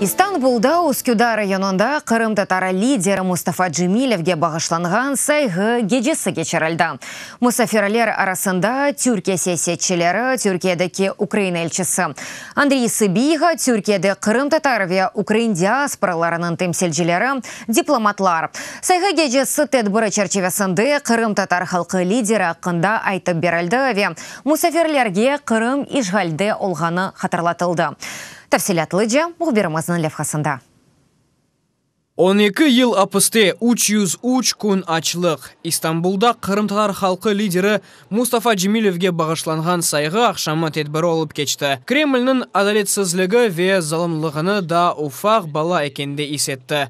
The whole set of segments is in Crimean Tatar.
İstanbulda Üsküdar rayonında qırımtatar lideri Mustafa Cemilevge bağışlanğan sayğı gecesi keçirildi. Musafirler arasında Türkiye siyasetçileri, Türkiyedeki Ukraina elçisi Andriy Sıbiha, Türkiyede qırımtatar ve ukrain diasporalarınıñ temsilcileri, diplomatlar. Sayğı gecesi tedbiri çerçivesinde qırımtatar halqı lideri aqqında aytıp berildi ve Musafirlerge Qırım işğalde olğanı hatırlatıldı. Tafsilâtlıca mühbirimizniñ levhasında. On eki yıl apiste, üç yüz üç kün açlıq. İstanbulda qırımtatar halqı lideri Mustafa Cemilevge bağışlanğan sayğı aqşamı tedbiri olıp keçti. Kremlniñ adaletsizligi ve zalımlığını daa ufaq bala ekende is etti.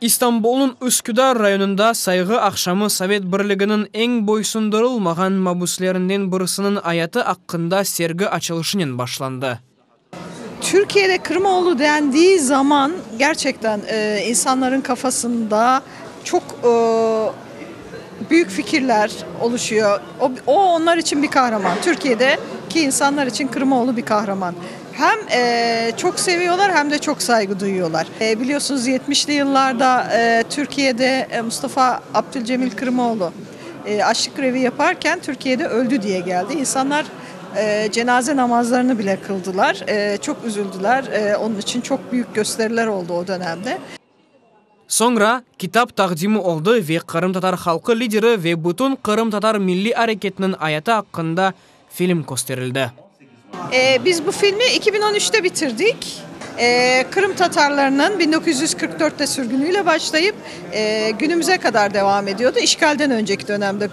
İstanbulnıñ Üsküdar rayonında sayğı aqşamı Sovet Birliginiñ eñ boysundırılmağan mabüslerinden birisiniñ ayatı aqqında sergi açılışınen başlandı. Türkiyede Kırımoğlu dendiği zaman gerçekten insanların kafasında çoq büyük fikirler oluşuyor. O onlar içün bir kahraman. Türkiyede ki insanlar içün Kırımoğlu bir kahraman. Hem çoq seviyorlar, hem de çoq sayğı duyuyorlar. Biliyorsunuz, yetmişli yıllarda Türkiyede Mustafa Abdülcemil Kırımoğlu açlıq grevi yaparken Türkiyede öldi diye geldi. İnsanlar cenaze namazlarını bile qıldılar. Çoq üzüldüler. Onun içün çoq büyük gösteriler oldu o dönemde. Soñra kitap taqdimi oldı ve qırımtatar halqı lideri ve bütün qırımtatar milliy areketiniñ ayatı aqqında film kösterildi. Biz bu filmi eki biñ on üçte bitirdik. Qırım tatarlarınıñ biñ dokuz yüz qırq dörtte sürgünüyle başlayıp, günümüze qadar devam ediyordı, işğalden önceki dönemde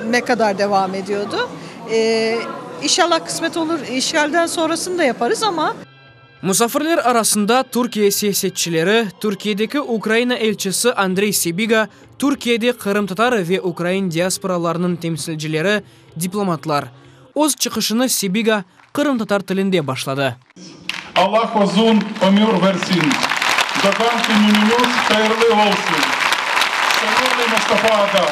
ne qadar devam ediyordı. İnşallah qısmet olur, işğalden sonrasını da yaparız ama. Musafirler arasında Türkiye siyasetçileri, Türkiyedeki Ukraina elçisi Andrey Sibiga, Türkiyede qırımtatar ve ukrain diasporalarınıñ temsilcileri, diplomatlar. Öz çıqışını Sibiga qırımtatar tilinde başladı. Allah uzun ömür versin! Doğğan kününiñiz hayırlı olsun! Sevimli Mustafa aga!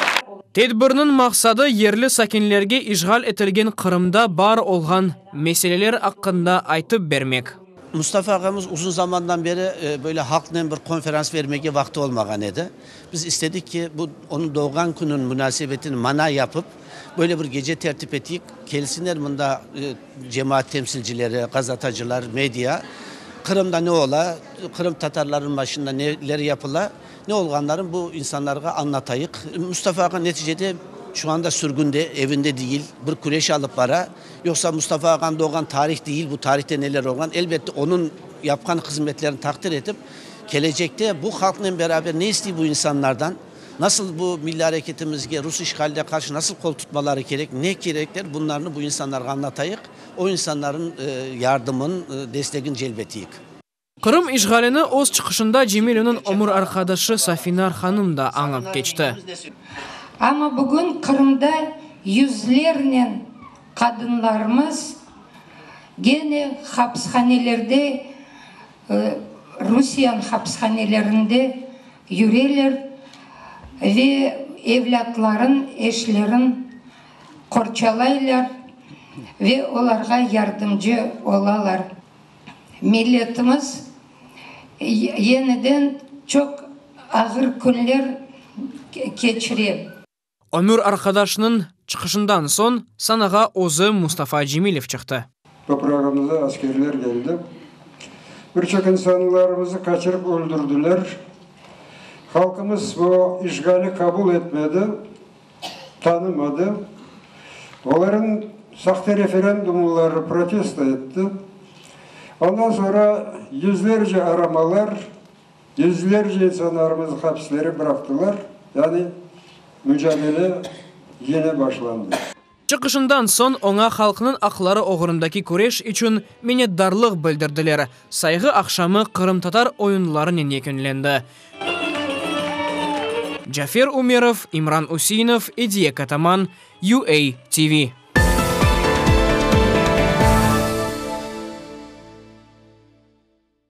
Tedbirniñ maqsadı yerli sakinlerge işğal etilgen Qırımda bar olğan Meseleler aqqında aytıp bermek. Mustafa ağamız uzun zamandan beri böyle halqnen bir konferans vermege vaqtı olmağan edi. Biz istedik ki, bu onıñ doğğan künüñ munasebetine mana yapıp, böyle bir gece tertip eteyik, kelsinler mında cemaat temsilcileri, gazetacılar, media, Qırımda ne ola, qırımtatarlarnıñ başında neler yapıla, ne olğanlarını bu insanlarğa añlatayıq. Mustafa ağa neticede şu anda sürgünde, evinde değil, bir küreş alıp bara. Yoqsa Mustafa ağanıñ doğğan tarih deyil, bu tarihte neler olğan, elbette onıñ yapqan hızmetlerini taqdir etip, kelecekte bu halqnen beraber ne istey bu insanlardan, nasıl bu milliy areketimizge rus işğaline qarşı nasıl qol tutmaları kerek, ne kerekler, bunlarnı bu insanlarğa añlatayıq, o insanlarnıñ yardımın, destegin celbetiyik. Qırım işğalini öz çıqışında Cemileniñ ömür arqadaşı Safinar hanım da añıp keçti. Amma bugün Qırımda yüzlernen qadınlarımız gene hapishanelerde, Rusiyan hapishanelerinde yüreler ve evlâtların, eşlerin qorçalaylar ve olarğa yardımcı olalar. Milletimiz yeniden çoq ağır künler keçire. Ömür arqadaşınıñ çıqışından soñ sanağa özü Mustafa Cemilev çıqtı. Toprağımıza askerler keldi. Bir çoq insanlarımızı qaçırıp öldürdiler. Halqımız bu işğali qabul etmedi. tanımadı, olarnıñ sahte referendumları protesto etti, ondan soñra yüzlerce aramalar, yüzlerce insanlarımıznı hapislere bıraqtılar, yani mücadele yine başlandı. Çıqışından soñ oña halqnıñ aqları oğrundaki küreş içün minnetdarlıq bildirdiler. Sayğı aqşamı qırımtatar oyunlarınen yekünlendi. Cafer Ümerov, İmran Üseinov, Ediye Kataman, UA TV.